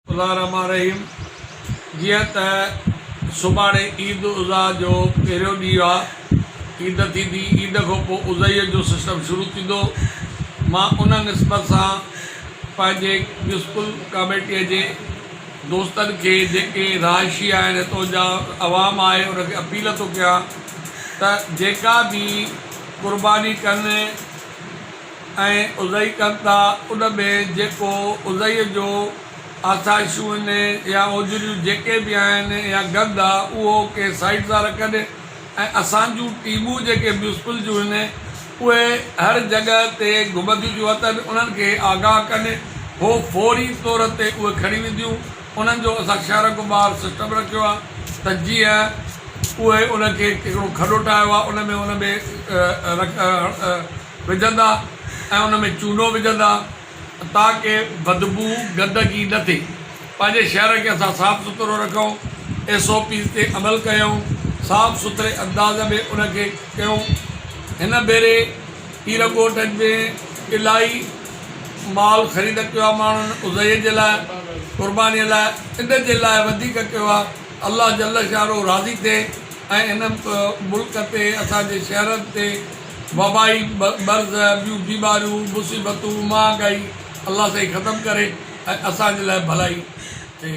الله الرحمٰن الرحيم جيئن ته سڀاڻي عيد الاضحيٰ جو پهريون ڏينهن آهي عيد ٿيندي عيد کان پوء اضحيٰ جو سسٽم شروع ٿيندو مان ان نسبت سان پنهنجي ميونسپل ڪاميٽيء جي دوستن کي جيڪي رهائشي آهن هتو جا عوام آهي ان کي اپيل ٿو ڪيان ته جيڪا به قرباني ڪن ۽ اضحي ڪن ٿا ان ۾ جيڪو اضحيء جو آسائشون آهن يا اوجريون جيڪي به آهن يا گند آهي اهو ڪي سائيڊ تان رکن ۽ اسان جون ٽيمون جيڪي ميونسپل جون آهن اهي هر جڳهه تي گهمنديون ٿيون اچن انهن کي آگاهه ڪن هو فوري طور تي اهي کڻي وينديون انهن جو اسان شهر کان ٻاهر سسٽم رکيو آهي ته جيئن اهي ان کي هڪڙو کڏو ٺاهيو آهي ان ۾ ان ۾ وجهندا ۽ ان ۾ چونو وجهندا تاڪه بدبو گندگي نه ٿئي پنهنجي شهر کي اسان صاف سٿرو رکيون ايس او پيز تي عمل ڪيون صاف سٿري انداز ۾ ان کي ڪيون هن ڀيري پيرنگوٽن ۾ الائي مال خريد ڪيو آهي ماڻهن اضحيي جي لاء قرباني لاء ان جي لاء وڌيڪ ڪيو آهي الله جل شانه راضي ٿئي ۽ ان ملڪ تي اسان جي شهرن تي وبائي مرض ٻيون بيماريون مصيبتون مهانگائي الله سائين ختم ڪري ۽ اسان جي لاء ڀلائي ٿئي